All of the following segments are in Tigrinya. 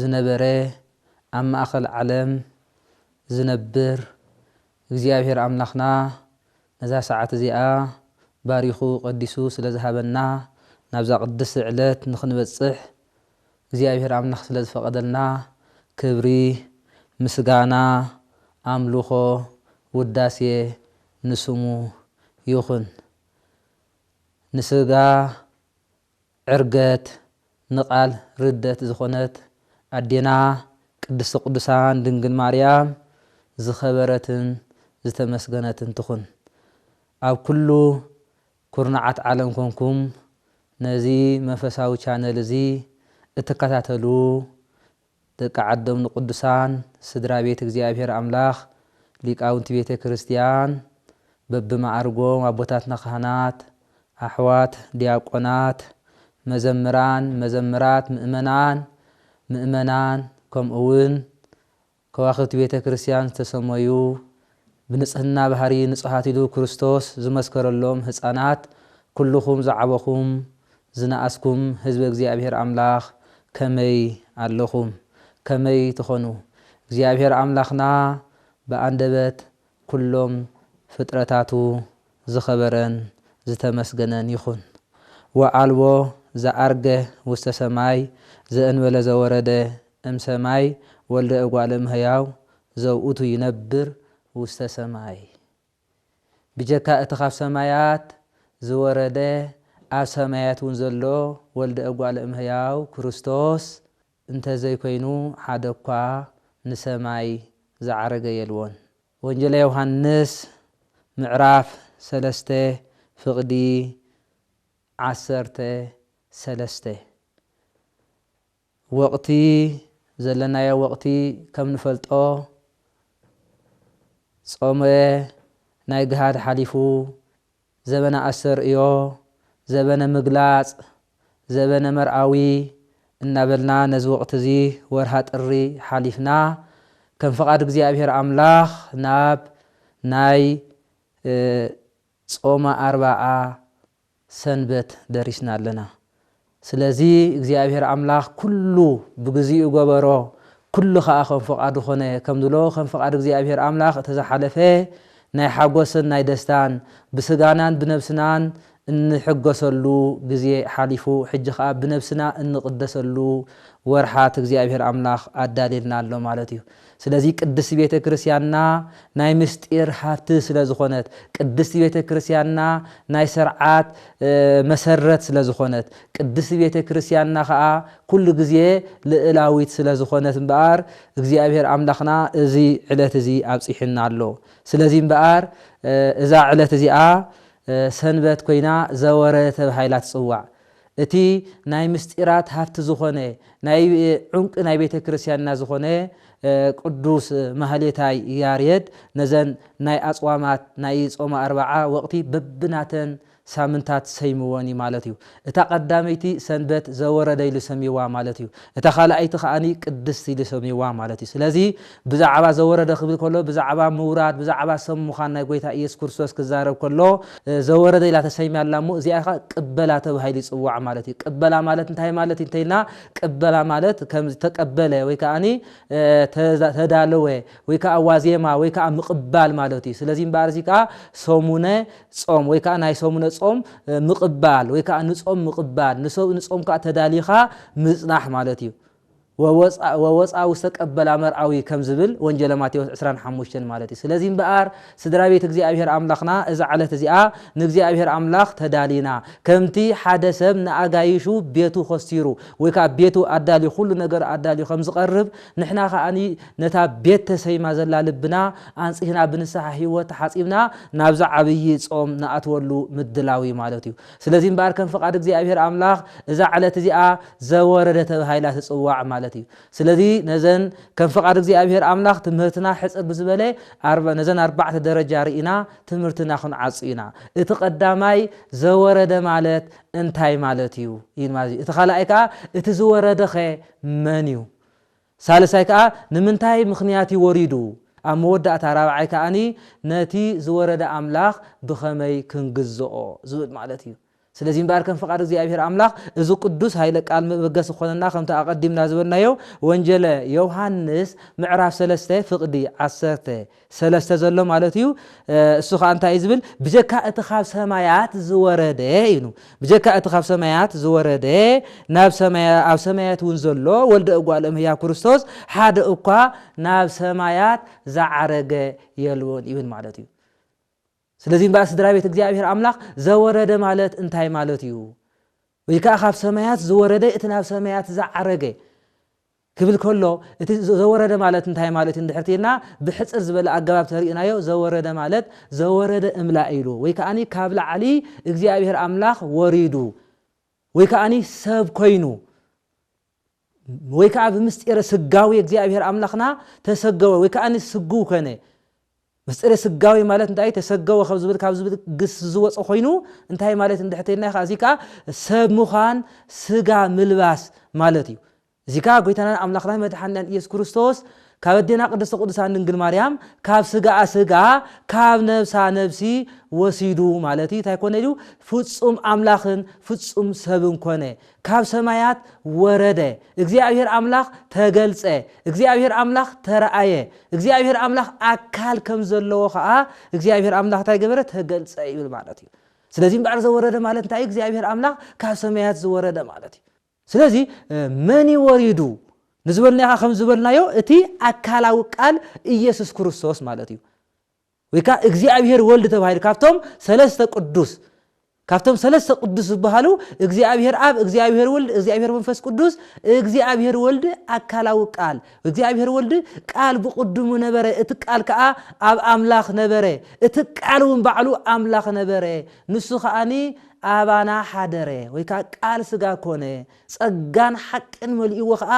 ዝነበረ ኣብ ማእከል ዓለም ዝነብር እግዚኣብሄር ኣምላኽና ነዛ ሰዓት እዚኣ ባሪኹ ቀዲሱ ስለ ዝሃበና ናብዛ ቅድስቲ ዕለት ንኽንበጽሕ እግዚኣብሄር ኣምላኽ ስለ ዝፈቐደልና ክብሪ ምስጋና ኣምልኾ ውዳሴ ንስሙ ይኹን ንስጋ ዕርገት ንቃል ርደት ዝኾነት ኣዴና ቅድስተ ቅዱሳን ድንግል ማርያም ዝኸበረትን ዝተመስገነትን ትኹን። ኣብ ኩሉ ኩርናዓት ዓለም ኮንኩም ነዚ መንፈሳዊ ቻነል እዚ እትከታተሉ ደቂ ዓዶም ንቅዱሳን ስድራ ቤት እግዚኣብሔር ኣምላኽ ሊቃውንቲ ቤተ ክርስቲያን በብመዓርጎም ኣቦታትና ካህናት ኣሕዋት ዲያቆናት መዘምራን መዘምራት ምእመናን ምእመናን ከምኡውን ከዋኽብቲ ቤተ ክርስቲያን ዝተሰመዩ ብንጽህና ባህሪ ንጹሃት ኢሉ ክርስቶስ ዝመስከረሎም ህጻናት ኩሉኹም ዝዓበኹም ዝነኣስኩም ህዝበ እግዚኣብሔር ኣምላኽ ከመይ ኣለኹም ከመይ ትኾኑ እግዚኣብሔር ኣምላኽና ብኣንደበት ኩሎም ፍጥረታቱ ዝኸበረን ዝተመስገነን ይኹን ወዓልቦ ዘዐርገ ውስተ ሰማይ ዘእንበለ ዘወረደ እም ሰማይ ወልደ እጓለ እምሕያው ዘውእቱ ይነብር ውስተ ሰማይ ብጀካ እቲ ካብ ሰማያት ዝወረደ ኣብ ሰማያትውን ዘሎ ወልደ እጓለ እምሕያው ክርስቶስ እንተዘይኮይኑ ሓደኳ ንሰማይ ዝዓረገ የልቦን። ወንጌለ ዮሐንስ ምዕራፍ ሰለስተ ፍቅዲ ዓሰርተ ሰለስተ ወቅቲ ዘለናዮ ወቅቲ ከም ንፈልጦ ጾመ ናይ ግሃድ ሓሊፉ ዘበነ ኣስተርእዮ፣ ዘበነ ምግላጽ፣ ዘበነ መርኣዊ እናበልና ነዚ ወቕቲ'ዚ ወርሃ ጥሪ ሓሊፍና ከም ፍቓድ እግዚኣብሔር ኣምላኽ ናብ ናይ ጾመ ኣርባዓ ሰንበት ደሪስና ኣለና። ስለዚ እግዚኣብሄር ኣምላኽ ኵሉ ብግዜኡ ገበሮ፣ ኵሉ ኸኣ ከም ፍቓዱ ዀነ ኸም ዝብሎ፣ ከም ፍቓድ እግዚኣብሄር ኣምላኽ እቲ ዝሓለፈ ናይ ሓጐስን ናይ ደስታን፣ ብስጋናን ብነብስናን እንሕጐሰሉ ግዜ ሓሊፉ፣ ሕጂ ኸኣ ብነብስና እንቕደሰሉ ወርሓት እግዚኣብሄር ኣምላኽ ኣዳልየልና ኣሎ ማለት እዩ። ስለዚ ቅድስቲ ቤተ ክርስቲያንና ናይ ምስጢር ሃብቲ ስለ ዝኾነት፣ ቅድስቲ ቤተ ክርስቲያንና ናይ ሰርዓት መሰረት ስለ ዝኾነት፣ ቅድስቲ ቤተ ክርስቲያንና ከኣ ኩሉ ግዜ ልእላዊት ስለ ዝኾነት እምበኣር እግዚኣብሔር ኣምላኽና እዚ ዕለት እዚ ኣብጺሑና ኣሎ። ስለዚ እምበኣር እዛ ዕለት እዚኣ ሰንበት ኮይና ዘወረ ተባሂላ ትጽዋዕ። እቲ ናይ ምስጢራት ሃፍቲ ዝኾነ ናይ ዑንቂ ናይ ቤተ ክርስቲያንና ዝኾነ ቅዱስ ማህሌታይ ያሬድ ነዘን ናይ ኣጽዋማት ናይ ጾመ ኣርብዓ ወቕቲ በብናተን ሳምንታት ሰይምወን እዩ ማለት እዩ። እታ ቀዳመይቲ ሰንበት ዘወረደ ኢሉ ሰምይዋ ማለት እዩ። እታ ካልኣይቲ ከኣ ቅድስት ኢሉ ሰምይዋ ማለት እዩ። ስለዚ ብዛዕባ ዘወረደ ክብል ከሎ ብዛዕባ ምውራድ ብዛዕባ ሰብ ምዃን ናይ ጎይታ ኢየሱስ ክርስቶስ ክዛረብ ከሎ ዘወረደ ኢላ ተሰይማ ኣላ እሞ እዚኣ ከኣ ቅበላ ተባሂሉ ይጽዋዕ ማለት እዩ። ቅበላ ማለት እንታይ ማለት እዩ እንተይልና ቅበላ ማለት ከም ዝተቀበለ ወይ ከኣኒ ተዳለወ ወይ ከኣ ዋዜማ ወይ ከኣ ምቅባል ማለት እዩ። ስለዚ እምበኣር እዚ ከኣ ሰሙነ ጾም ወይ ከኣ ናይ ሰሙነ ጾም ምቅባል ወይ ከኣ ንጾም ምቅባል ንጾም ከኣ ተዳሊኻ ምጽናሕ ማለት እዩ። ወወጽኣ ወወጽኣ ውስተ ቀበላ መርኣዊ ከም ዝብል ወንጌለ ማቴዎስ ዕስራን ሓሙሽተን ማለት እዩ። ስለዚ እምበኣር ስድራ ቤት እግዚኣብሔር ኣምላኽና እዛ ዕለት እዚኣ ንእግዚኣብሔር ኣምላኽ ተዳሊና ከምቲ ሓደ ሰብ ንኣጋይሹ ቤቱ ኾስቲሩ ወይ ከኣ ቤቱ ኣዳልዩ ኹሉ ነገሩ ኣዳልዩ ከም ዝቐርብ ንሕና ከኣ ነታ ቤት ተሰይማ ዘላ ልብና ኣንጺህና ብንስሓ ሕይወት ተሓጺብና ናብዛ ዓብዪ ጾም ንኣትወሉ ምድላው እዩ ማለት እዩ። ስለዚ እምበኣር ከም ፍቓድ እግዚኣብሔር ኣምላኽ እዛ ዕለት እዚኣ ዘወረደ ተባሂላ ትጽዋዕ ማለት እዩ። ስለዚ ነዘን ከም ፍቓድ እግዚኣብሄር ኣምላኽ ትምህርትና ሕጽር ብዝበለ ኣርብ ነዘን ኣርባዕተ ደረጃ ርኢና ትምህርትና ክንዓጹ ኢና። እቲ ቀዳማይ ዘወረደ ማለት እንታይ ማለት እዩ? ይብል ማለት እዩ። እቲ ካልኣይ ከኣ እቲ ዝወረደኸ መን እዩ? ሳልሳይ ከኣ ንምንታይ ምኽንያት እዩ ወሪዱ፣ ኣብ መወዳእታ ራብዓይ ከኣ ነቲ ዝወረደ ኣምላኽ ብኸመይ ክንግዝኦ ዝብል ማለት እዩ። ስለዚ እምበኣር ከም ፍቓድ እግዚኣብሔር ኣምላኽ እዚ ቅዱስ ኃይለ ቃል መበገሲ ክኾነና ከምቲ ኣቐዲምና ዝበልናዮ ወንጀለ ዮውሃንስ ምዕራፍ ሰለስተ ፍቕዲ ዓሰርተ ሰለስተ ዘሎ ማለት እዩ እሱ ከ እንታይ እዩ ዝብል ብጀካ እቲ ካብ ሰማያት ዝወረደ ኢኑ ብጀካ እቲ ካብ ሰማያት ዝወረደ ናብ ኣብ ሰማያት እውን ዘሎ ወልደ እጓል እምህያ ክርስቶስ ሓደ እኳ ናብ ሰማያት ዝዓረገ የልቦን ይብል ማለት እዩ ስለዚ እምበኣር ስድራቤት እግዚኣብሄር ኣምላኽ ዘወረደ ማለት እንታይ ማለት እዩ? ወይ ከኣ ካብ ሰማያት ዝወረደ እቲ ናብ ሰማያት ዝዓረገ ክብል ከሎ እቲ ዘወረደ ማለት እንታይ ማለት እዩ እንድሕር ትይልና ብሕጽር ዝበለ ኣገባብ ተርእናዮ ዘወረደ ማለት ዘወረደ እምላእ ኢሉ ወይ ከኣ ካብ ላዕሊ እግዚኣብሄር ኣምላኽ ወሪዱ ወይ ከኣ ሰብ ኮይኑ ወይ ከኣ ብምስጢረ ስጋዌ እግዚኣብሔር ኣምላኽና ተሰገወ ወይ ከኣ ስግው ኮነ። ምስጢረ ስጋዌ ማለት እንታይ እዩ? ተሰገወ ካብ ዝብል ካብ ዝብል ግስ ዝወጸ ኮይኑ እንታይ ማለት እንድሕር ተይልና ከኣ እዚ ከኣ ሰብ ምዃን ስጋ ምልባስ ማለት እዩ። እዚ ከኣ ጎይታናን ኣምላኽናን መድሓኒናን ኢየሱስ ክርስቶስ ካብ ኣዴና ቅድስተ ቅዱሳን ድንግል ማርያም ካብ ስጋኣ ስጋ ካብ ነብሳ ነብሲ ወሲዱ ማለት እዩ። እንታይ ኮነ ኢሉ ፍጹም ኣምላኽን ፍጹም ሰብን ኮነ። ካብ ሰማያት ወረደ፣ እግዚኣብሄር ኣምላኽ ተገልጸ፣ እግዚኣብሄር ኣምላኽ ተራኣየ፣ እግዚኣብሄር ኣምላኽ ኣካል ከም ዘለዎ ከኣ እግዚኣብሄር ኣምላኽ እንታይ ገበረ? ተገልጸ ይብል ማለት እዩ። ስለዚ እምበኣር ዘወረደ ማለት እንታይ እዩ? እግዚኣብሄር ኣምላኽ ካብ ሰማያት ዝወረደ ማለት እዩ። ስለዚ መን እዩ ወሪዱ ንዝበልናዮ ከ ከም ዝበልናዮ እቲ ኣካላዊ ቃል ኢየሱስ ክርስቶስ ማለት እዩ። ወይ ከኣ እግዚኣብሔር ወልድ ተባሂሉ ካብቶም ሰለስተ ቅዱስ ካብቶም ሰለስተ ቅዱስ ዝበሃሉ እግዚኣብሔር ኣብ እግዚኣብሔር ወልድ እግዚኣብሔር መንፈስ ቅዱስ እግዚኣብሔር ወልድ ኣካላዊ ቃል እግዚኣብሔር ወልድ ቃል ብቅድሙ ነበረ እቲ ቃል ከኣ ኣብ ኣምላኽ ነበረ እቲ ቃል እውን ባዕሉ ኣምላኽ ነበረ ንሱ ከኣኒ ኣባና ሓደረ ወይ ከኣ ቃል ስጋ ኮነ ጸጋን ሓቅን መሊእዎ ከኣ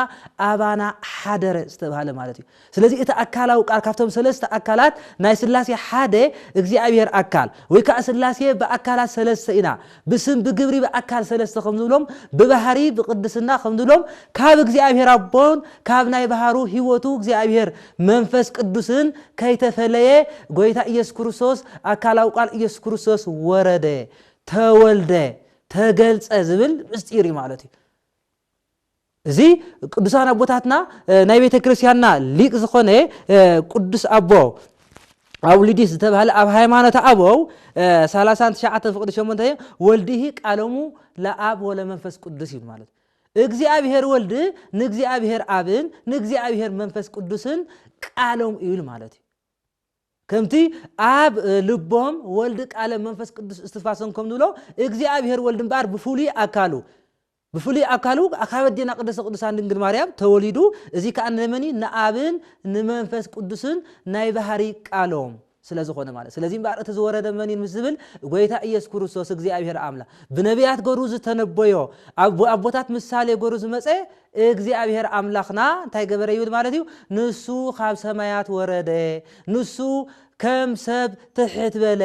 ኣባና ሓደረ ዝተባህለ ማለት እዩ። ስለዚ እቲ ኣካላዊ ቃል ካብቶም ሰለስተ ኣካላት ናይ ስላሴ ሓደ እግዚኣብሔር ኣካል ወይ ከኣ ስላሴ ብኣካላት ሰለስተ ኢና ብስም ብግብሪ ብኣካል ሰለስተ ከም ንብሎም ብባህሪ ብቅድስና ከም ንብሎም ካብ እግዚኣብሔር ኣቦን ካብ ናይ ባህሩ ሕይወቱ እግዚኣብሔር መንፈስ ቅዱስን ከይተፈለየ ጎይታ ኢየሱስ ክርስቶስ ኣካላዊ ቃል ኢየሱስ ክርስቶስ ወረደ ተወልደ ተገልጸ ዝብል ምስጢር እዩ ማለት እዩ እዚ ቅዱሳን ኣቦታትና ናይ ቤተ ክርስቲያንና ሊቅ ዝኾነ ቅዱስ ኣቦ ኣውሊዲስ ዝተባህለ ኣብ ሃይማኖት ኣበው 39 ፍቅዲ 8 ወልድሂ ቃሎሙ ለኣብ ወለመንፈስ ቅዱስ ይብል ማለት እግዚኣብሔር ወልድ ንእግዚኣብሔር ኣብን ንእግዚኣብሔር መንፈስ ቅዱስን ቃሎም ይብል ማለት እዩ ከምቲ ኣብ ልቦም ወልድ ቃለ መንፈስ ቅዱስ እስትንፋሶም ከም ንብሎ እግዚኣብሔር ወልድ እምበኣር ብፍሉይ ኣካሉ ብፍሉይ ኣካሉ ካብ ኣዴና ቅድስተ ቅዱሳን ድንግል ማርያም ተወሊዱ እዚ ከዓ ንመኒ ንኣብን ንመንፈስ ቅዱስን ናይ ባህሪ ቃሎም ስለ ዝኾነ ማለት ስለዚ እምበኣር እቲ ዝወረደ መኒን ምስ ዝብል ጎይታ ኢየሱስ ክርስቶስ እግዚኣብሔር ኣምላ ብነቢያት ገሩ ዝተነበዮ ኣብ ኣቦታት ምሳሌ ገሩ ዝመፀ እግዚኣብሄር ኣምላኽና እንታይ ገበረ ይብል ማለት እዩ፣ ንሱ ኻብ ሰማያት ወረደ፣ ንሱ ከም ሰብ ትሕት በለ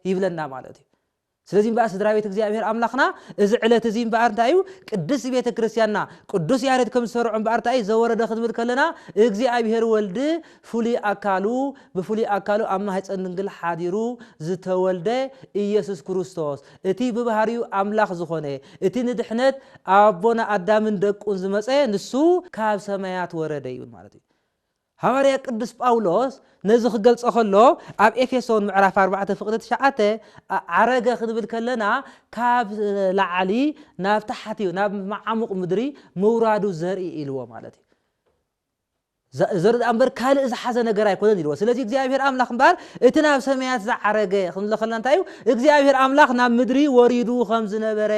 ይብለና ማለት እዩ። ስለዚ እምበኣር ስድራ ቤት እግዚኣብሄር ኣምላኽና እዚ ዕለት እዚ እምበኣር እንታይ እዩ ቅድስት ቤተ ክርስቲያንና ቅዱስ ያሬድ ከም ዝሰርዖ እምበኣር እንታይ እዩ ዘወረደ ክንብል ከለና እግዚኣብሄር ወልድ ፍሉይ ኣካሉ ብፍሉይ ኣካሉ ኣብ ማህፀን ድንግል ሓዲሩ ዝተወልደ ኢየሱስ ክርስቶስ እቲ ብባህሪኡ ኣምላኽ ዝኾነ፣ እቲ ንድሕነት ኣቦና ኣዳምን ደቁን ዝመጸ ንሱ ካብ ሰማያት ወረደ ይብል ማለት እዩ። ሃዋርያ ቅዱስ ጳውሎስ ነዚ ክገልጾ ከሎ ኣብ ኤፌሶን ምዕራፍ ኣርባዕተ ፍቕዲ ትሽዓተ ዓረገ ክንብል ከለና ካብ ላዕሊ ናብ ታሕቲ ናብ መዓሙቕ ምድሪ ምውራዱ ዘርኢ ኢልዎ ማለት እዩ። ዘርኢ ደኣ እምበር ካልእ ዝሓዘ ነገር ኣይኮነን ኢልዎ። ስለዚ እግዚኣብሄር ኣምላኽ እምበኣር እቲ ናብ ሰማያት ዝዓረገ ክንብሎ ከለና እንታይ እዩ? እግዚኣብሄር ኣምላኽ ናብ ምድሪ ወሪዱ ከም ዝነበረ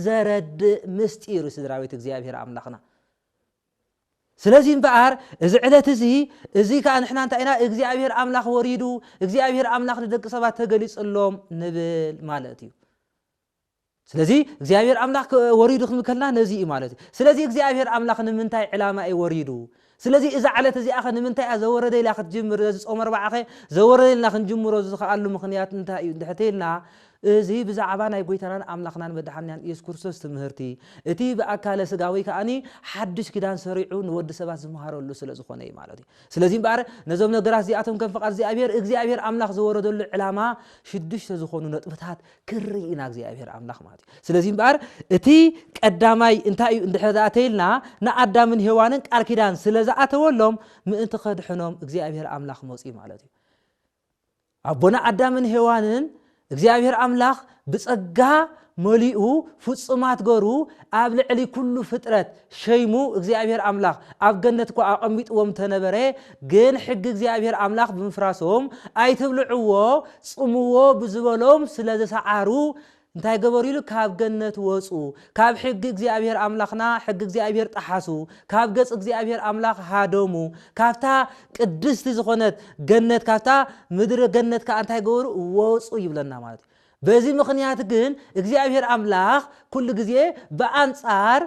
ዘረድእ ምስጢር እዩ ስድራቤት እግዚኣብሄር ኣምላኽና። ስለዚ እምበኣር እዚ ዕለት እዚ እዚ ከኣ ንሕና እንታይ ኢና እግዚኣብሄር ኣምላኽ ወሪዱ እግዚኣብሄር ኣምላኽ ንደቂ ሰባት ተገሊጽሎም ንብል ማለት እዩ። ስለዚ እግዚኣብሄር ኣምላኽ ወሪዱ ክንብል ከለና ነዚ እዩ ማለት እዩ። ስለዚ እግዚኣብሄር ኣምላኽ ንምንታይ ዕላማ እዩ ወሪዱ? ስለዚ እዛ ዕለት እዚኣኸ ንምንታይ እያ ዘወረደ ኢላ ክትጅምር ነዚ ጾመ ኣርብዓኸ ዘወረደ ኢልና ክንጅምሮ ዝኸኣሉ ምኽንያት እንታይ እዩ እንድሕር ተይልና እዚ ብዛዕባ ናይ ጎይታናን ኣምላኽናን መድሓኒናን ኢየሱስ ክርስቶስ ትምህርቲ እቲ ብኣካለ ስጋ ወይ ከኣ ሓድሽ ኪዳን ሰሪዑ ንወዲ ሰባት ዝመሃረሉ ስለ ዝኾነ እዩ ማለት እዩ። ስለዚ እምበኣር ነዞም ነገራት እዚኣቶም ከም ፍቓድ እግዚኣብሄር እግዚኣብሄር ኣምላኽ ዘወረደሉ ዕላማ ሽዱሽተ ዝኾኑ ነጥብታት ክርኢ ኢና እግዚኣብሔር ኣምላኽ ማለት እዩ ስለዚ እምበኣር እቲ ቀዳማይ እንታይ እዩ እንድሕር ደኣ ተይልና ንኣዳምን ሄዋንን ቃል ኪዳን ስለ ዝኣተወሎም ምእንቲ ከድሕኖም እግዚኣብሔር ኣምላኽ መፅኡ ማለት እዩ ኣቦና ኣዳምን ሄዋንን እግዚኣብሔር ኣምላኽ ብፀጋ መሊኡ ፍፁማት ገሩ ኣብ ልዕሊ ኩሉ ፍጥረት ሸይሙ እግዚኣብሔር ኣምላኽ ኣብ ገነት እኳ ኣቐሚጥዎም እንተነበረ ግን ሕጊ እግዚኣብሔር ኣምላኽ ብምፍራሶም ኣይትብልዕዎ ጽምዎ ብዝበሎም ስለ ዝሰዓሩ እንታይ ገበሩ ኢሉ ካብ ገነት ወጹ ካብ ሕጊ እግዚኣብሔር ኣምላኽና ሕጊ እግዚኣብሔር ጠሓሱ ካብ ገጽ እግዚኣብሔር ኣምላኽ ሃደሙ ካብታ ቅድስቲ ዝኾነት ገነት ካብታ ምድረ ገነት ከዓ እንታይ ገበሩ ወጹ ይብለና ማለት እዩ በዚ ምኽንያት ግን እግዚኣብሔር ኣምላኽ ኩሉ ግዜ ብኣንጻር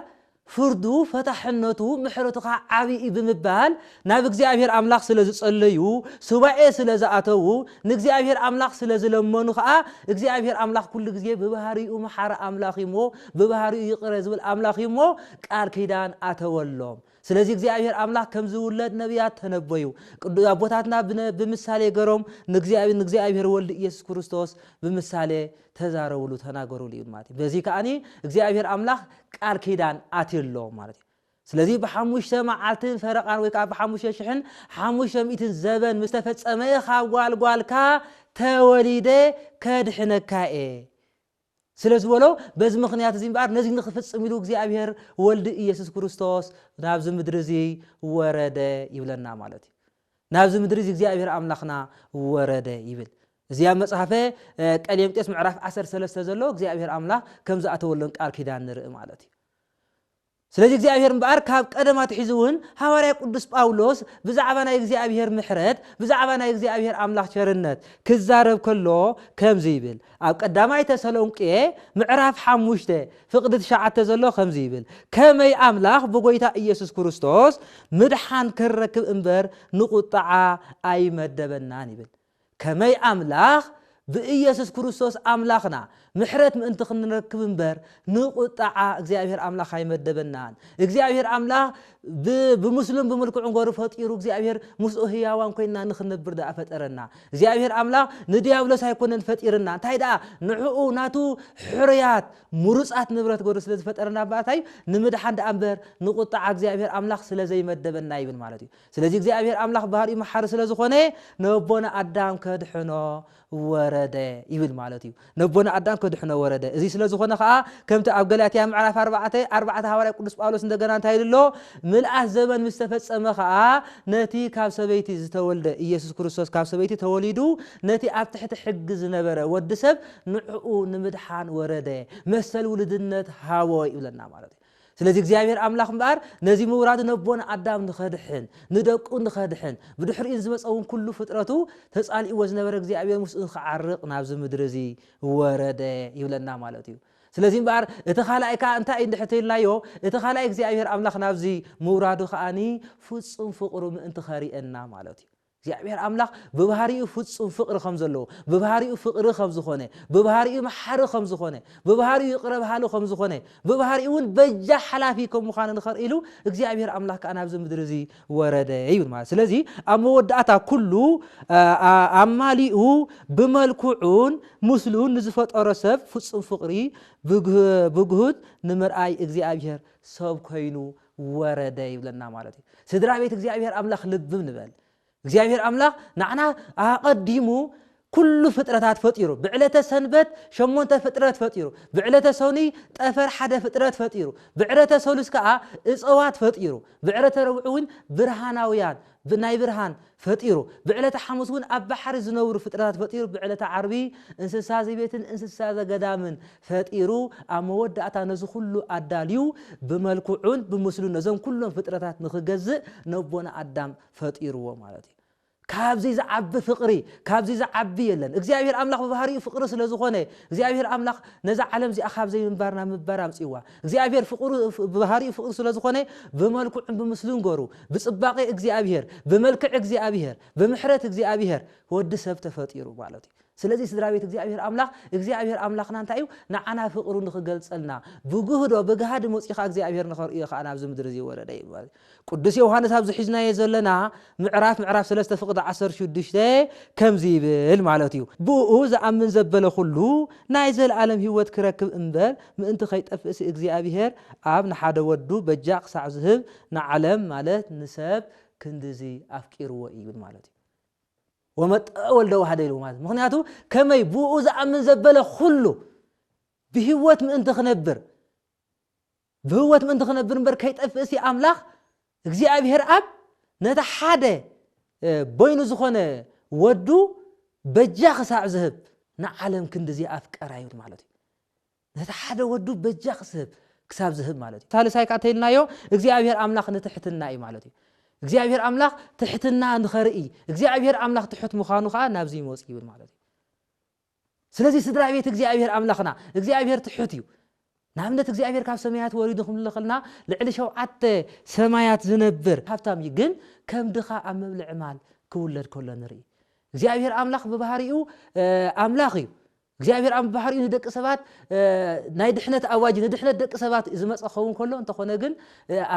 ፍርዱ ፈታሕነቱ ምሕረቱ ከኣ ዓቢ እዩ ብምባል ናብ እግዚኣብሔር ኣምላኽ ስለ ዝጸለዩ ሱባኤ ስለ ዝኣተዉ ንእግዚኣብሔር ኣምላኽ ስለ ዝለመኑ ከኣ እግዚኣብሔር ኣምላኽ ኩሉ ግዜ ብባህሪኡ መሓሪ ኣምላኽ እዩሞ ብባህሪኡ ይቕረ ዝብል ኣምላኽ እዩሞ ቃል ኪዳን ኣተወሎም ስለዚ እግዚኣብሔር ኣምላክ ከምዝውለድ ነብያት ተነበዩ ቅዱ ኣቦታትና ብነ ብምሳሌ ገሮም ንእግዚኣብሔር ንእግዚኣብሔር ወልድ ኢየሱስ ክርስቶስ ብምሳሌ ተዛረብሉ ተናገርሉ እዩ ማለት እዩ በዚ ከኣኒ እግዚኣብሔር ኣምላክ ቃል ኪዳን ኣትየሎም ማለት እዩ ስለዚ ብሓሙሽተ መዓልትን ፈረቓን ወይ ከዓ ብሓሙሽተ ሽሕን ሓሙሽተ ሚእትን ዘበን ምስ ተፈጸመ ካብ ጓልጓልካ ተወሊደ ከድሕነካ እየ ስለ ዝበሎ፣ በዚ ምኽንያት እዚ እምበኣር ነዚ ንኽፍጽም ኢሉ እግዚኣብሔር ወልድ ኢየሱስ ክርስቶስ ናብዚ ምድሪ እዚ ወረደ ይብለና ማለት እዩ። ናብዚ ምድሪ እዚ እግዚኣብሔር ኣምላኽና ወረደ ይብል። እዚ ኣብ መጽሓፈ ቀሌምጤስ ምዕራፍ ዓሰርተ ሰለስተ ዘሎ እግዚኣብሔር ኣምላኽ ከም ዝኣተወለን ቃል ኪዳን ንርኢ ማለት እዩ። ስለዚ እግዚኣብሔር እምበኣር ካብ ቀደም ኣትሒዙ እውን ሃዋርያ ቅዱስ ጳውሎስ ብዛዕባ ናይ እግዚኣብሔር ምሕረት ብዛዕባ ናይ እግዚኣብሔር ኣምላኽ ቸርነት ክዛረብ ከሎ ከምዚ ይብል ኣብ ቀዳማይ ተሰሎንቄ ምዕራፍ ሓሙሽተ ፍቕዲ ትሽዓተ ዘሎ ከምዚ ይብል ከመይ ኣምላኽ ብጎይታ ኢየሱስ ክርስቶስ ምድሓን ክንረክብ እምበር ንቁጥዓ ኣይመደበናን ይብል ከመይ ኣምላኽ ብኢየሱስ ክርስቶስ ኣምላኽና ምሕረት ምእንቲ ክንረክብ እምበር ንቁጥዓ እግዚኣብሔር ኣምላኽ ኣይመደበናን እግዚኣብሔር ኣምላኽ ብ ብምስሉን ብምልክዑን ገሩ ፈጢሩ እግዚኣብሔር ምስኡ ህያዋን ኮይንና ንክንነብር ደኣ ፈጠረና እግዚኣብሔር ኣምላኽ ንድያብሎስ ኣይኮነን ፈጢርና እንታይ ደኣ ንዕኡ ናቱ ሕሩያት ምሩጻት ንብረት ገሩ ስለ ዝፈጠረና ባእታዩ ንምድሓን ደኣ እምበር ንቁጥዓ እግዚኣብሔር ኣምላኽ ስለ ዘይመደበና ይብል ማለት እዩ ስለዚ እግዚኣብሄር ኣምላኽ ባህሪኡ መሓሪ ስለ ዝኾነ ነቦና ኣዳም ከድሕኖ ወረደ ይብል ማለት እዩ። ነቦና ኣዳም ከድሕኖ ወረደ። እዚ ስለ ዝኾነ ከኣ ከምቲ ኣብ ገላትያ ምዕራፍ ኣርባዕተ ኣርባዕተ ሃዋርያ ቅዱስ ጳውሎስ እንደገና እንታይ ኢሉ ኣሎ? ምልኣት ዘበን ምስ ተፈጸመ ከኣ ነቲ ካብ ሰበይቲ ዝተወልደ ኢየሱስ ክርስቶስ ካብ ሰበይቲ ተወሊዱ ነቲ ኣብ ትሕቲ ሕጊ ዝነበረ ወዲ ሰብ ንዕኡ ንምድሓን ወረደ፣ መሰል ውልድነት ሃቦ ይብለና ማለት እዩ። ስለዚ እግዚኣብሔር ኣምላኽ እምበኣር ነዚ ምውራዱ ነቦና ኣዳም ንኸድሕን ንደቁ ንኸድሕን ብድሕሪኡ ንዝመጸ እውን ኩሉ ፍጥረቱ ተጻሊእዎ ዝነበረ እግዚኣብሔር ምስኡ ንክዓርቕ ናብዚ ምድሪ እዚ ወረደ ይብለና ማለት እዩ። ስለዚ እምበኣር እቲ ካልኣይ ከዓ እንታይ እዩ እንድሕር ተይልናዮ እቲ ካልኣይ እግዚኣብሔር ኣምላኽ ናብዚ ምውራዱ ከዓኒ ፍጹም ፍቕሩ ምእንቲ ከርእየና ማለት እዩ። እግዚኣብሔር ኣምላኽ ብባህሪኡ ፍጹም ፍቕሪ ከም ዘለዎ፣ ብባህሪኡ ፍቕሪ ከም ዝኾነ፣ ብባህሪኡ መሓሪ ከም ዝኾነ፣ ብባህሪኡ ይቕረ በሃሊ ከም ዝኾነ፣ ብባህሪኡ እውን በጃ ሓላፊ ከም ምዃኑ ንኸርእይሉ እግዚኣብሔር ኣምላኽ ከኣ ናብዚ ምድሪ እዚ ወረደ ይብል ማለት ስለዚ ኣብ መወዳእታ ኩሉ ኣማሊኡ ብመልክዑን ምስሉን ንዝፈጠሮ ሰብ ፍጹም ፍቕሪ ብግሁድ ንምርኣይ እግዚኣብሔር ሰብ ኮይኑ ወረደ ይብለና ማለት እዩ ስድራ ቤት እግዚኣብሔር ኣምላኽ ልብም ንበል እግዚኣብሔር ኣምላኽ ንዓና ኣቐዲሙ ኩሉ ፍጥረታት ፈጢሩ ብዕለተ ሰንበት ሸሞንተ ፍጥረት ፈጢሩ ብዕለተ ሰኑይ ጠፈር ሓደ ፍጥረት ፈጢሩ ብዕለተ ሰሉስ ከዓ እፀዋት ፈጢሩ ብዕለተ ረብዑ እውን ብርሃናውያን ብናይ ብርሃን ፈጢሩ። ብዕለተ ሓሙስ እውን ኣብ ባሕሪ ዝነብሩ ፍጥረታት ፈጢሩ፣ ብዕለተ ዓርቢ እንስሳ ዘቤትን እንስሳ ዘገዳምን ፈጢሩ፣ ኣብ መወዳእታ ነዚ ኩሉ ኣዳልዩ ብመልክዑን ብምስሉን ነዞም ኩሎም ፍጥረታት ንኽገዝእ ነቦና ኣዳም ፈጢርዎ ማለት እዩ። ካብዚ ዝዓቢ ፍቕሪ ካብዚ ዝዓቢ የለን። እግዚኣብሄር ኣምላኽ ብባህሪኡ ፍቕሪ ስለዝኾነ እግዚኣብሄር ኣምላኽ ነዛ ዓለም እዚኣ ካብ ዘይምንባር ናብ ምንባር ኣምጺእዋ። እግዚኣብሔር ፍቕሩ ብባህሪኡ ፍቕሪ ስለ ዝኾነ ብመልክዑን ብምስሉን ገሩ ብጽባቄ እግዚኣብሔር ብመልክዕ እግዚኣብሔር ብምሕረት እግዚኣብሔር ወዲ ሰብ ተፈጢሩ ማለት እዩ። ስለዚ ስድራቤት እግዚኣብሔር ኣምላኽ እግዚኣብሔር ኣምላኽና እንታይ እዩ ንዓና ፍቕሩ ንኽገልጸልና ብግህዶ ብጋህዲ መጺኡ ከኣ እግዚኣብሔር ንኸርእዮ ከኣ ናብዚ ምድሪ እዚ ወረደ እዩ። ቅዱስ ዮውሃንስ ኣብዚ ሒዝናዮ ዘለና ምዕራፍ ምዕራፍ ሰለስተ ፍቅዲ ዓሰርተ ሽዱሽተ ከምዚ ይብል ማለት እዩ፣ ብእኡ ዝኣምን ዘበለ ኩሉ ናይ ዘለኣለም ህይወት ኪረክብ እምበር ምእንቲ ከይጠፍእሲ እግዚኣብሄር ኣብ ንሓደ ወዱ በጃ ክሳዕ ዝህብ ንዓለም ማለት ንሰብ ክንድዚ ኣፍቂርዎ እዩ ማለት እዩ። ወመጠወ ወልደ ዋህደ ኢልዎ ማለት ምክንያቱ ከመይ ብእኡ ዝኣምን ዘበለ ኩሉ ብህይወት ምእንቲ ክነብር ብህወት ምእንቲ ክነብር እምበር ከይጠፍእሲ ኣምላኽ እግዚኣብሔር ኣብ ነቲ ሓደ በይኑ ዝኾነ ወዱ በጃ ክሳዕ ዝህብ ንዓለም ክንድዚ ኣፍቀራ ይብል ማለት እዩ። ነቲ ሓደ ወዱ በጃ ክስህብ ክሳብ ዝህብ ማለት እዩ። ሳልሳይ ከዓ ተይልናዮ እግዚኣብሔር ኣምላኽ ንትሕትና እዩ ማለት እዩ። እግዚኣብሔር ኣምላኽ ትሕትና ንኸርኢ እግዚኣብሔር ኣምላኽ ትሑት ምዃኑ ከዓ ናብዚ ይመፅ ይብል ማለት እዩ። ስለዚ ስድራ ቤት እግዚኣብሔር ኣምላኽና እግዚኣብሔር ትሑት እዩ ንኣብነት እግዚኣብሔር ካብ ሰማያት ወሪዱ ክንልኽልና ልዕሊ ሸውዓተ ሰማያት ዝነብር ሃብታም እዩ ግን ከም ድኻ ኣብ መብልዒ ማል ክውለድ ከሎ ንርኢ እግዚኣብሔር ኣምላኽ ብባህሪኡ ኣምላኽ እዩ እግዚኣብሔር ኣብ ባህሪኡ ንደቂ ሰባት ናይ ድሕነት ኣዋጅ ንድሕነት ደቂ ሰባት ዝመፀ ክኸውን ከሎ እንተኾነ ግን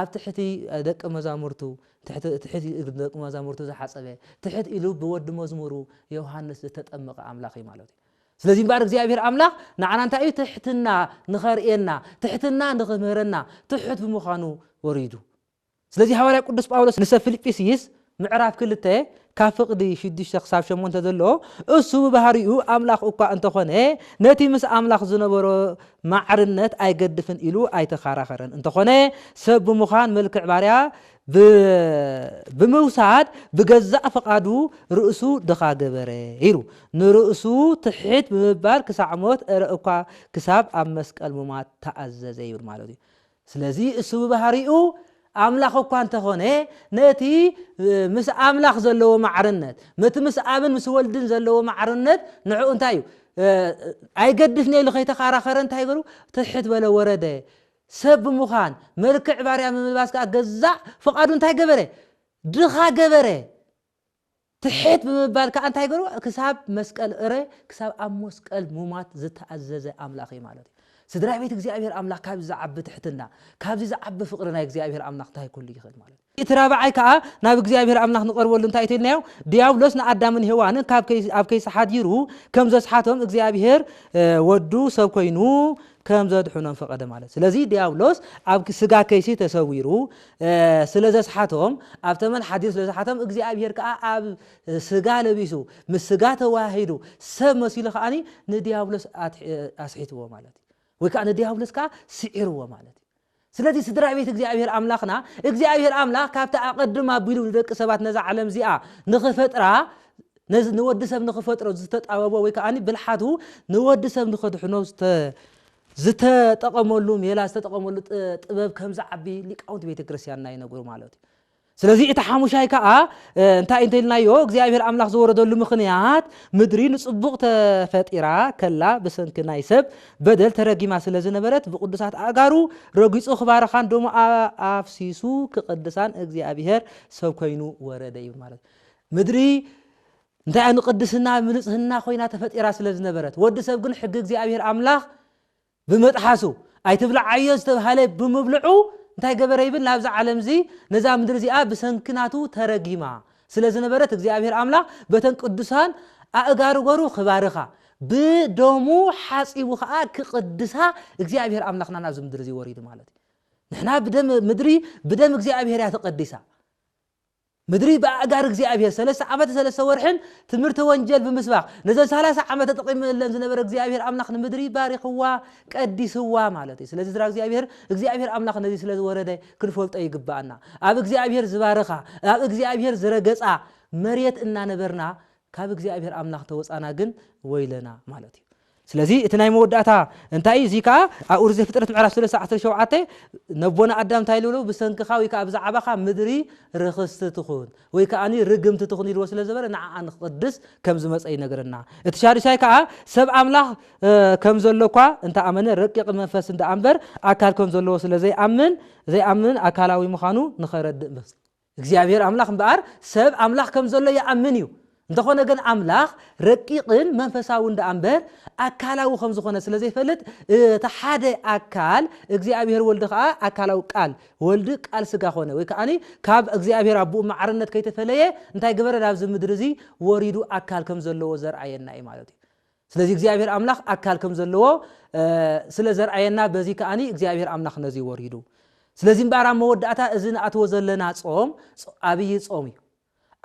ኣብ ትሕቲ ደቂ መዛሙርቱ ትሕት ትሕት ኢሉ ንደቂ መዛሙርቱ ዝሓጸበ፣ ትሕት ኢሉ ብወዲ መዝሙሩ ዮሃንስ ዝተጠመቐ ኣምላኽ እዩ ማለት እዩ። ስለዚ እምበኣር እግዚኣብሄር ኣምላኽ ንዓና እንታይ እዩ ትሕትና ንኸርእየና፣ ትሕትና ንኽምህረና ትሑት ብምዃኑ ወሪዱ። ስለዚ ሃዋርያ ቅዱስ ጳውሎስ ንሰብ ፊልጵስይስ ምዕራፍ ክልተ ካብ ፍቕዲ ሽዱሽተ ክሳብ ሸሞንተ ዘሎ፣ እሱ ብባህሪኡ ኣምላኽ እኳ እንተ ኾነ፣ ነቲ ምስ ኣምላኽ ዝነበሮ ማዕርነት ኣይገድፍን ኢሉ ኣይተኻራኸረን። እንተ ኾነ ሰብ ብምዃን መልክዕ ባርያ ብምውሳድ ብገዛእ ፍቓዱ ርእሱ ድኻ ገበረ ኢሉ ንርእሱ ትሕት ብምባል ክሳዕ ሞት እረ እኳ ክሳብ ኣብ መስቀል ምሟት ተኣዘዘ ይብል ማለት እዩ። ስለዚ እሱ ብባህሪኡ ኣምላኽ እኳ እንተኾነ ነቲ ምስ ኣምላኽ ዘለዎ ማዕርነት ነቲ ምስ ኣብን ምስ ወልድን ዘለዎ ማዕርነት ንዕኡ እንታይ እዩ ኣይገድፍኒ ኢሉ ከይተካራኸረ እንታይ ገሩ ትሕት በለ ወረደ ሰብ ብምዃን መልክዕ ባርያ ብምልባስ ከዓ ገዛእ ፍቓዱ እንታይ ገበረ ድኻ ገበረ ትሕት ብምባል ከኣ እንታይ ገሩ ክሳብ መስቀል እረ ክሳብ ኣብ ሞስቀል ሙማት ዝተኣዘዘ ኣምላኽ እዩ ማለት እዩ ስድራ ቤት እግዚኣብሔር ኣምላኽ ካብዚ ዝዓቢ ትሕትና ካብዚ ዝዓቢ ፍቕሪ ናይ እግዚኣብሔር ኣምላኽ እንታይ ኩሉ ይኽእል ማለት እዩ እቲ ራብዓይ ከኣ ናብ እግዚኣብሔር ኣምላኽ ንቐርበሉ እንታይ እተልናዮ ድያብሎስ ንኣዳምን ሄዋንን ካብ ኣብ ከይሲ ሓዲሩ ከም ዘስሓቶም እግዚኣብሔር ወዱ ሰብ ኮይኑ ከም ዘድሕኖም ፈቐደ ማለት ስለዚ ድያብሎስ ኣብ ስጋ ከይሲ ተሰዊሩ ስለ ዘስሓቶም ኣብ ተመን ሓዲር ስለ ዝሓቶም እግዚኣብሄር ከኣ ኣብ ስጋ ለቢሱ ምስ ስጋ ተዋሂዱ ሰብ መሲሉ ከኣኒ ንዲያብሎስ ኣስሒትዎ ማለት እዩ ወይ ከዓ ንዲያብሎስ ከዓ ስዒርዎ ማለት እዩ ስለዚ ስድራ ቤት እግዚኣብሄር ኣምላኽና እግዚኣብሄር ኣምላኽ ካብቲ ኣቐድም ኣቢሉ ንደቂ ሰባት ነዛ ዓለም እዚኣ ንኽፈጥራ ንወዲ ሰብ ንኽፈጥሮ ዝተጣበቦ ወይ ከዓኒ ብልሓቱ ንወዲ ሰብ ንኸድሕኖ ዝተጠቐመሉ ሜላ ዝተጠቐመሉ ጥበብ ከም ዝዓቢ ሊቃውንቲ ቤተ ክርስቲያንና ይነግሩ ማለት እዩ። ስለዚ እቲ ሓሙሻይ ከዓ እንታይ እንተልናዮ እግዚኣብሔር ኣምላኽ ዝወረደሉ ምኽንያት ምድሪ ንጽቡቕ ተፈጢራ ከላ ብሰንኪ ናይ ሰብ በደል ተረጊማ ስለ ዝነበረት ብቅዱሳት ኣእጋሩ ረጊጹ ክባረኻን ደሞ ኣፍሲሱ ክቅድሳን እግዚኣብሔር ሰብ ኮይኑ ወረደ ይብል ማለት ምድሪ እንታይ እያ ንቅድስና ምንጽህና ኮይና ተፈጢራ ስለ ዝነበረት ወዲ ሰብ ግን ሕጊ እግዚኣብሔር ኣምላኽ ብመጥሓሱ ኣይትብልዓዮ ዝተብሃለ ብምብልዑ እንታይ ገበረ ይብል ናብዛ ዓለም እዚ ነዛ ምድሪ እዚኣ ብሰንኪ ናቱ ተረጊማ ስለ ዝነበረት እግዚኣብሔር ኣምላኽ በተን ቅዱሳን ኣእጋሩ ገሩ ክባርኻ ብደሙ ሓጺቡ ከዓ ክቅድሳ እግዚኣብሔር ኣምላኽና ናብዚ ምድሪ እዚ ወሪዱ ማለት እዩ ንሕና ብደም ምድሪ ብደም እግዚኣብሔር እያ ተቀዲሳ ምድሪ ብኣእጋር እግዚኣብሄር ሰለስተ ዓመትን ሰለስተ ወርሕን ትምህርተ ወንጀል ብምስባኽ ነዘን ሰላሳ ዓመት ተጠቒምለን ዝነበረ እግዚኣብሄር ኣምላኽ ንምድሪ ባሪኽዋ ቀዲስዋ ማለት እዩ ስለዚ ስድራ እግዚኣብሄር እግዚኣብሄር ኣምላኽ ነዚ ስለ ዝወረደ ክንፈልጦ ይግባኣና ኣብ እግዚኣብሄር ዝባረኻ ኣብ እግዚኣብሄር ዝረገጻ መሬት እናነበርና ካብ እግዚኣብሄር ኣምላኽ ተወጻና ግን ወይለና ማለት እዩ ስለዚ እቲ ናይ መወዳእታ እንታይ እዩ? እዙይ ከዓ ኣብ ኦሪት ዘፍጥረት ምዕራፍ ሰለስተ ዓሰርተ ሸውዓተ ነቦና ኣዳም እንታይ ኢሉ በሎ? ብሰንክኻ ወይ ከዓ ብዛዕባኻ ምድሪ ርኽስቲ ትኹን ወይ ከዓ ርግምቲ ትኹን ኢልዎ ስለ ዝበለ ንዓኣ ንክቕድስ ከም ዝመፀ ይነግረና። እቲ ሻዱሻይ ከዓ ሰብ ኣምላኽ ከም ዘሎ እኳ እንተኣመነ ረቂቕ መንፈስ እንድኣ እምበር ኣካል ከም ዘለዎ ስለ ዘይኣምን ዘይኣምን ኣካላዊ ምዃኑ ንኸረድእ ምስ እግዚኣብሄር ኣምላኽ እምበኣር ሰብ ኣምላኽ ከም ዘሎ ይኣምን እዩ፣ እንተዀነ ግን ኣምላኽ ረቂቕን መንፈሳውን ደኣ እምበር ኣካላዊ ከም ዝዀነ ስለ ዘይፈልጥ እቲ ሓደ ኣካል እግዚኣብሄር ወልድ ከኣ ኣካላዊ ቃል ወልድ ቃል ስጋ ዀነ ወይ ከኣ ካብ እግዚኣብሄር ኣቦኡ ማዕርነት ከይተፈለየ እንታይ ገበረ ናብዚ ምድሪ እዚ ወሪዱ ኣካል ከም ዘለዎ ዘርኣየና እዩ ማለት እዩ። ስለዚ እግዚኣብሄር ኣምላኽ ኣካል ከም ዘለዎ ስለ ዘርኣየና በዚ ከኣ እግዚኣብሄር ኣምላኽ ነዚ ወሪዱ ስለዚ እምበኣር ኣብ መወዳእታ እዚ ንኣትዎ ዘለና ጾም ኣብይ ጾም እዩ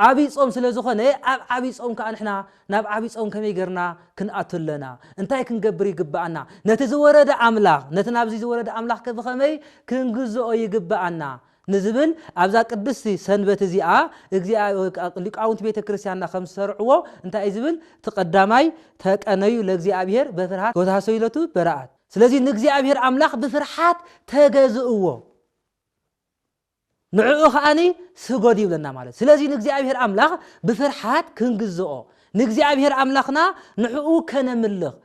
ዓብይ ጾም ስለ ዝኾነ ኣብ ዓብይ ጾም ከዓ ንሕና ናብ ዓብይ ጾም ከመይ ገርና ክንኣቱ ኣለና እንታይ ክንገብር ይግብኣና ነቲ ዝወረደ ኣምላኽ ነቲ ናብዚ ዝወረደ ኣምላኽ ከብኸመይ ክንግዝኦ ይግብኣና ንዝብል ኣብዛ ቅድስቲ ሰንበት እዚኣ እግዚኣ ሊቃውንቲ ቤተ ክርስቲያንና ከም ዝሰርዕዎ እንታይ እዩ ዝብል እቲ ቀዳማይ ተቀነዩ ለእግዚኣብሔር በፍርሃት ወተሃሰዩ ለቱ በረኣት ስለዚ ንእግዚኣብሔር ኣምላኽ ብፍርሓት ተገዝእዎ ንዕኡ ከዓኒ ስጎድ ይብለና ማለት ስለዚ ንእግዚኣብሔር ኣምላኽ ብፍርሓት ክንግዝኦ ንእግዚኣብሔር ኣምላኽና ንዕኡ ከነምልኽ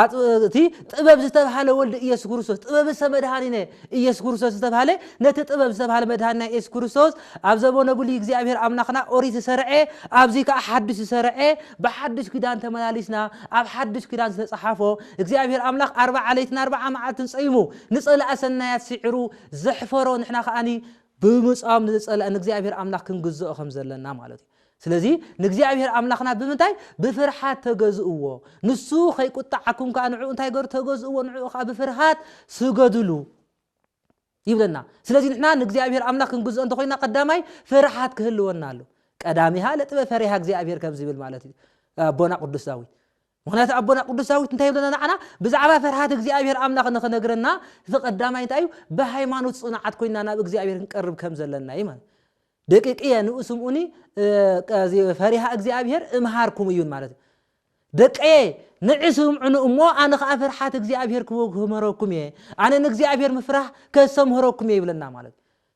ኣቲ ጥበብ ዝተብሃለ ወልድ ኢየሱስ ክርስቶስ ጥበብ ሰ መድሃኒነ ኢየሱስ ክርስቶስ ዝተብሃለ ነቲ ጥበብ ዝተብሃለ መድሃኒና ኢየሱስ ክርስቶስ ኣብ ዘበነ ብሉይ እግዚኣብሔር ኣምላኽና ኦሪት ዝሰርዐ ኣብዚ ከዓ ሓድሽ ዝሰርዐ ብሓድሽ ኪዳን ተመላሊስና ኣብ ሓድሽ ኪዳን ዝተፅሓፎ እግዚኣብሔር ኣምላኽ ኣርባዓ ለይትን ኣርባዓ መዓልትን ፀይሙ ንፀላእ ሰናያት ሲዕሩ ዘሕፈሮ ንሕና ከዓኒ ብምፃም ንዝፀላእ ንእግዚኣብሔር ኣምላኽ ክንግዝኦ ከምዘለና ማለት እዩ። ስለዚ ንእግዚኣብሄር ኣምላኽና ብምንታይ? ብፍርሓት ተገዝእዎ። ንሱ ኸይቍጥዓኩም ከኣ ንዕኡ እንታይ ገሩ? ተገዝእዎ፣ ንዕኡ ኸኣ ብፍርሃት ስገዱሉ ይብለና። ስለዚ ንሕና ንእግዚኣብሄር ኣምላኽ ክንግዝኦ እንተ ዀይንና ቀዳማይ ፍርሓት ክህልወና ኣሎ። ቀዳሚሃ ለጥበብ ፈሪሃ እግዚኣብሄር ከም ዚብል ማለት እዩ ኣቦና ቅዱስ ዳዊት። ምኽንያቱ ኣቦና ቅዱስ ዳዊት እንታይ ይብለና ንዓና ብዛዕባ ፈርሃት እግዚኣብሔር ኣምላኽ ንኽነግረና እቲ ቀዳማይ እንታይ እዩ ብሃይማኖት ጽኑዓት ኮይና ናብ እግዚኣብሔር ክንቀርብ ከም ዘለና እዩ ማለት ደቂቅየ ንኡ ስምኡኒ ፈሪሃ እግዚኣብሔር እምሃርኩም እዩን ማለት እዩ ደቀየ ንዕስምዑኒ እሞ ኣነ ከዓ ፍርሓት እግዚኣብሔር ክምህረኩም እየ ኣነ ንእግዚኣብሔር ምፍራህ ከሰምህረኩም እየ ይብለና ማለት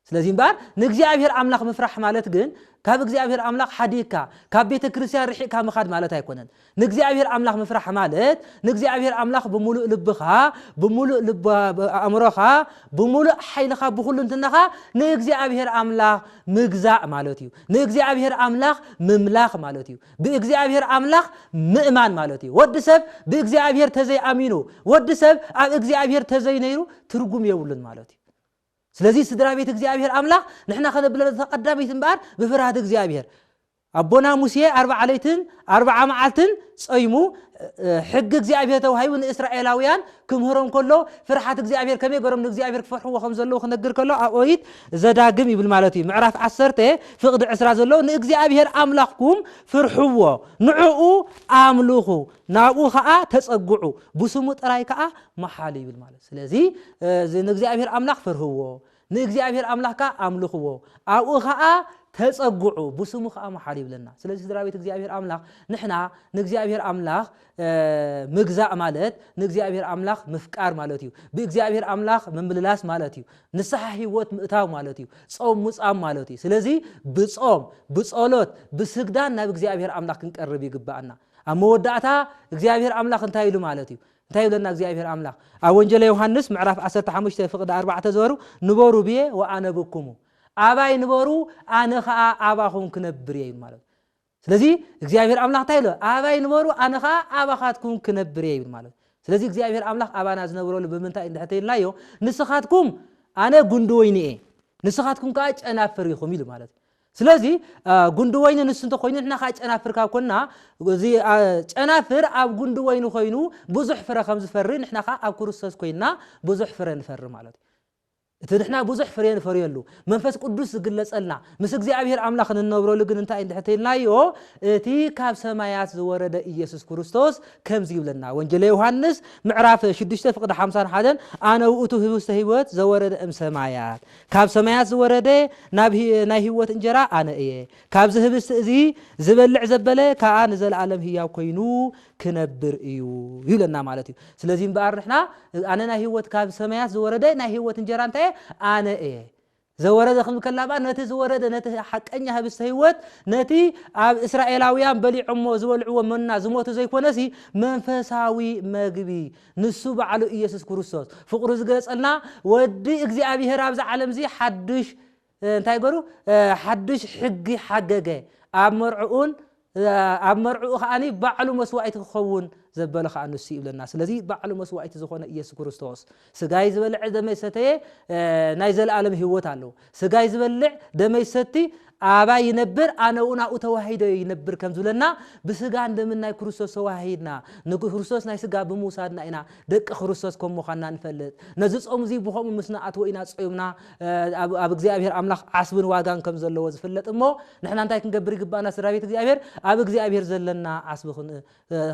ስለዚ እምበኣር ንእግዚኣብሔር ኣምላኽ ምፍራሕ ማለት ግን ካብ እግዚኣብሔር ኣምላኽ ሓዲግካ ካብ ቤተ ክርስቲያን ርሒቕካ ምኻድ ማለት ኣይኮነን። ንእግዚኣብሔር ኣምላኽ ምፍራሕ ማለት ንእግዚኣብሔር ኣምላኽ ብምሉእ ልብኻ፣ ብምሉእ ልብ ኣእምሮኻ፣ ብምሉእ ሓይልኻ ብኹልንትናኻ ንእግዚኣብሔር ኣምላኽ ምግዛእ ማለት እዩ። ንእግዚኣብሔር ኣምላኽ ምምላኽ ማለት እዩ። ብእግዚኣብሔር ኣምላኽ ምእማን ማለት እዩ። ወዲ ሰብ ብእግዚኣብሔር ተዘይኣሚኑ፣ ወዲ ሰብ ኣብ እግዚኣብሔር ተዘይነይሩ ትርጉም የብሉን ማለት እዩ። ስለዚ ስድራ ቤት እግዚኣብሔር ኣምላኽ ንሕና ከነብለለ ተቀዳሚት እምበኣር ብፍርሃት እግዚኣብሔር ኣቦና ሙሴ ኣርብዓ ለይትን ኣርብዓ መዓልትን ጸይሙ ሕጊ እግዚኣብሔር ተዋሂቡ ንእስራኤላውያን ክምህሮም ከሎ ፍርሓት እግዚኣብሔር ከመይ ገሮም ንእግዚኣብሔር ክፈርሕዎ ከም ዘለዉ ክነግር ከሎ ኣብ ኦሪት ዘዳግም ይብል ማለት እዩ ምዕራፍ ዓሰርተ ፍቕዲ ዕስራ ዘለዉ ንእግዚኣብሔር ኣምላኽኩም ፍርሕዎ ንዕኡ ኣምልኹ ናብኡ ከዓ ተጸግዑ ብስሙ ጥራይ ከዓ መሓሉ ይብል ማለት እዩ ስለዚ እዚ ንእግዚኣብሄር ኣምላኽ ፍርህዎ፣ ንእግዚኣብሄር ኣምላኽ ከኣ ኣምልኽዎ፣ ኣብኡ ኸኣ ተጸግዑ፣ ብስሙ ኸኣ መሓሉ ይብለና። ስለዚ ስድራ ቤት እግዚኣብሄር ኣምላኽ ንሕና ንእግዚኣብሄር ኣምላኽ ምግዛእ ማለት ንእግዚኣብሄር ኣምላኽ ምፍቃር ማለት እዩ። ብእግዚኣብሄር ኣምላኽ ምምልላስ ማለት እዩ። ንስሓ ህይወት ምእታው ማለት እዩ። ጾም ሙጻም ማለት እዩ። ስለዚ ብጾም፣ ብጸሎት፣ ብስግዳን ናብ እግዚኣብሄር ኣምላኽ ክንቀርብ ይግባኣና። ኣብ መወዳእታ እግዚኣብሄር ኣምላኽ እንታይ ኢሉ ማለት እዩ? እንታይ ይብለና እግዚኣብሄር ኣምላኽ ኣብ ወንጀለ ዮሃንስ ምዕራፍ ዓሰርተ ሓሙሽተ ፍቅዲ ኣርባዕተ ዝበሩ ንበሩ ብየ ወኣነብኩሙ ኣባይ ንበሩ ኣነ ከኣ ኣባኹም ክነብር እየ ይብል ማለት ስለዚ እግዚኣብሄር ኣምላኽ እንታይ ኢሎ ኣባይ ንበሩ ኣነ ከኣ ኣባኻትኩም ክነብር እየ ይብል ማለት ስለዚ እግዚኣብሄር ኣምላኽ ኣባና ዝነብረሉ ብምንታይ እንድሕተ ኢልናዮ ንስኻትኩም ኣነ ጉንዲ ወይኒ እየ ንስኻትኩም ከዓ ጨናፍር ኢኹም ኢሉ ማለት ስለዚ ጉንዲ ወይኒ ንሱ እንተኮይኑ ንሕና ከኣ ጨናፍር ካብ ኮንና እዚ ጨናፍር ኣብ ጉንዲ ወይኒ ኮይኑ ብዙሕ ፍረ ከም ዝፈሪ ንሕና ከኣ ኣብ ክርስቶስ ኮይንና ብዙሕ ፍረ ንፈሪ ማለት እዩ። እቲ ንሕና ብዙሕ ፍሬ ንፈርየሉ መንፈስ ቅዱስ ዝግለጸልና ምስ እግዚኣብሔር ኣምላኽ ንነብረሉ ግን እንታይ እንድሕር ተይልናዮ እቲ ካብ ሰማያት ዝወረደ ኢየሱስ ክርስቶስ ከምዚ ይብለና ወንጌለ ዮሐንስ ምዕራፍ 6 ፍቅዲ 51 ኣነ ውእቱ ህብስተ ሕይወት ዘወረደ እም ሰማያት ካብ ሰማያት ዝወረደ ናብ ናይ ህይወት እንጀራ ኣነ እየ፣ ካብዚ ህብስቲ እዚ ዝበልዕ ዘበለ ከኣ ንዘለኣለም ህያው ኮይኑ ክነብር እዩ ይብለና ማለት እዩ። ስለዚ እምበኣር ንሕና ኣነ ናይ ህይወት ካብ ሰማያት ዝወረደ ናይ ህይወት እንጀራ እንታይ እየ? ኣነ እየ። ዘወረደ ክብል ከላ እምበኣር ነቲ ዝወረደ ነቲ ሓቀኛ ህብስተ ህይወት ነቲ ኣብ እስራኤላውያን በሊዖሞ ዝበልዕዎ መና ዝሞቱ ዘይኮነሲ መንፈሳዊ መግቢ ንሱ ባዕሉ ኢየሱስ ክርስቶስ ፍቕሩ ዝገለጸልና ወዲ እግዚኣብሔር ኣብዚ ዓለምዚ ሓዱሽ እንታይ ገሩ ሓዱሽ ሕጊ ሓገገ ኣብ መርዕኡን ኣብ መርዕኡ ከዓ ባዕሉ መስዋእቲ ክኸውን ዘበለ ከዓ ንሱ ይብለና ስለዚ ባዕሉ መስዋእቲ ዝኾነ ኢየሱስ ክርስቶስ ስጋይ ዝበልዐ ደመይ ሰተየ ናይ ዘለኣለም ህይወት ኣለዎ ስጋይ ዝበልዕ ደመይ ዝሰቲ ኣባይ ይነብር ኣነ'ውን ኣብኡ ተዋሂደ ይነብር ከም ዝብለና ብስጋን ደምን ናይ ክርስቶስ ተዋሃሂድና ንክርስቶስ ናይ ስጋ ብምውሳድና ኢና ደቂ ክርስቶስ ከም ምዃንና ንፈልጥ። ነዚ ጾም እዚ ብኸምኡ ምስ ንኣትዎ ኢና ጾይምና ኣብ እግዚኣብሔር ኣምላኽ ዓስብን ዋጋን ከም ዘለዎ ዝፍለጥ እሞ ንሕና እንታይ ክንገብር ይግብኣና ስድራቤት እግዚኣብሔር ኣብ እግዚኣብሔር ዘለና ዓስቢ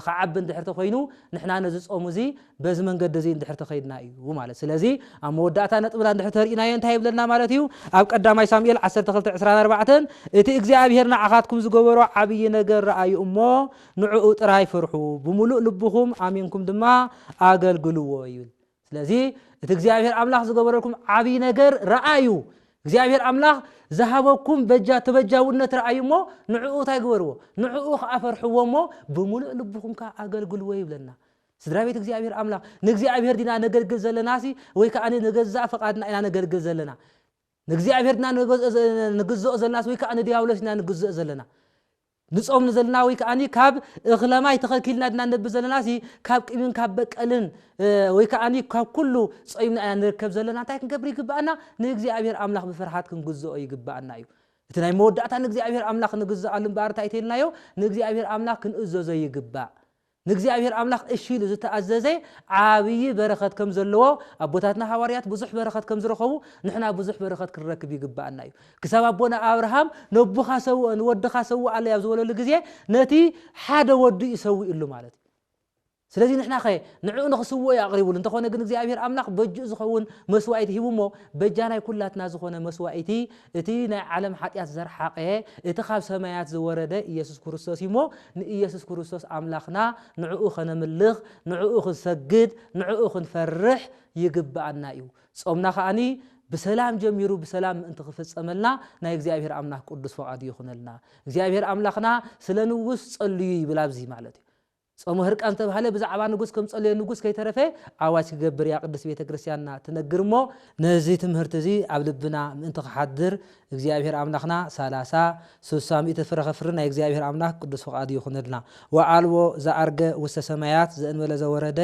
ክዓቢ እንድሕር ተኮይኑ ንሕና ነዚ ጾም እዚ በዚ መንገዲ እዚ እንድሕር ተከይድና እዩ ማለት ስለዚ ኣብ መወዳእታ ነጥብና እንድሕር ተርኢናዮ እንታይ ይብለና ማለት እዩ ኣብ ቀዳማይ ሳሙኤል ዓሰርተ ክልተ ዕስራን ኣርባዕተን እቲ እግዚኣብሄር ንዓኻትኩም ዝገበሮ ዓብዪ ነገር ረኣዩ እሞ ንዕኡ ጥራይ ፍርሑ ብምሉእ ልብኹም ኣሚንኩም ድማ ኣገልግልዎ ይብል ስለዚ እቲ እግዚኣብሔር ኣምላኽ ዝገበረልኩም ዓብይ ነገር ረኣዩ እግዚኣብሔር ኣምላኽ ዝሃበኩም በጃ ተበጃውነት ረኣዩ እሞ ንዕኡ እንታይ ግበርዎ ንዕኡ ከዓ ፈርሕዎ እሞ ብምሉእ ልብኹም ከዓ ኣገልግልዎ ይብለና ስድራ ቤት እግዚኣብሔር ኣምላኽ ንእግዚኣብሔር ዲና ነገልግል ዘለና ሲ ወይ ከዓ ንገዛእ ፈቃድና ኢና ነገልግል ዘለና ንእግዚኣብሔር ድና ንግዝኦ ዘለና ወይ ከዓ ንዲያብሎስ ኢና ንግዝኦ ዘለና ንጾም ንዘልና ወይ ከኣኒ ካብ እኽለማይ ተኸልኪልና ድና ነብር ዘለናሲ ካብ ቅቢን ካብ በቀልን ወይ ከኣኒ ካብ ኩሉ ጾይምና ኢና ንርከብ ዘለና እንታይ ክንገብር ይግብኣና ንእግዚኣብሔር ኣምላኽ ብፍርሃት ክንግዝኦ ይግብኣና እዩ እቲ ናይ መወዳእታ ንእግዚኣብሔር ኣምላኽ ንግዝኣሉ እምበኣር እንታይ ተይልናዮ ንእግዚኣብሔር ኣምላኽ ክንእዘዞ ይግባእ ንእግዚኣብሔር ኣምላኽ እሺ ኢሉ ዝተኣዘዘ ዓብዪ በረኸት ከም ዘለዎ ኣቦታትና ሃዋርያት ብዙሕ በረኸት ከም ዝረኸቡ ንሕና ብዙሕ በረኸት ክንረክብ ይግብኣና እዩ። ክሳብ ኣቦና ኣብርሃም ነቦኻ ሰውኦ ንወድኻ ሰውኣለይ ኣብ ዝበለሉ ግዜ ነቲ ሓደ ወዱ እዩ ሰዊኡሉ ማለት እዩ። ስለዚ ንሕናኸ ንዕኡ ንኽስውኦ እዩ ኣቕሪቡሉ እንተኾነ ግን እግዚኣብሔር ኣምላኽ በጅኡ ዝኸውን መስዋኢቲ ሂቡ እሞ በጃናይ ኩላትና ዝኾነ መስዋኢቲ እቲ ናይ ዓለም ሓጢኣት ዘርሓቐ እቲ ካብ ሰማያት ዝወረደ ኢየሱስ ክርስቶስ እዩ እሞ ንኢየሱስ ክርስቶስ ኣምላኽና ንዕኡ ከነምልኽ ንዕኡ ክንሰግድ ንዕኡ ክንፈርሕ ይግብኣና እዩ። ጾምና ከኣ ብሰላም ጀሚሩ ብሰላም ምእንቲ ክፍጸመልና ናይ እግዚኣብሔር ኣምላኽ ቅዱስ ፍቓዱ ይኹነልና። እግዚኣብሔር ኣምላኽና ስለ ንጉስ ጸልዩ ይብል ኣብዚ ማለት እዩ። ጾመ ህርቃን ዝተባህለ ብዛዕባ ንጉስ ከም ጸለዮ ንጉስ ከይተረፈ ኣዋጅ ክገብር እያ ቅድስት ቤተ ክርስቲያንና ትነግር እሞ፣ ነዚ ትምህርቲ እዚ ኣብ ልብና ምእንቲ ክሓድር እግዚኣብሔር ኣምላኽና ሰላሳ፣ ስሳ፣ ሚእቲ ፍረ ከፍሪ ናይ እግዚኣብሔር ኣምላክ ቅዱስ ፍቃዱ ይኹነልና። ወኣልቦ ዘዐርገ ውስተ ሰማያት ዘእንበለ ዘወረደ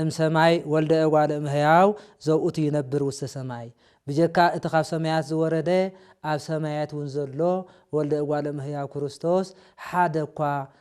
እም ሰማይ ወልደ እጓለ እም ሕያው ዘውእቱ ይነብር ውስተ ሰማይ ብጀካ እቲ ካብ ሰማያት ዝወረደ ኣብ ሰማያት እውን ዘሎ ወልደ እጓለ እም ሕያው ክርስቶስ ሓደ እኳ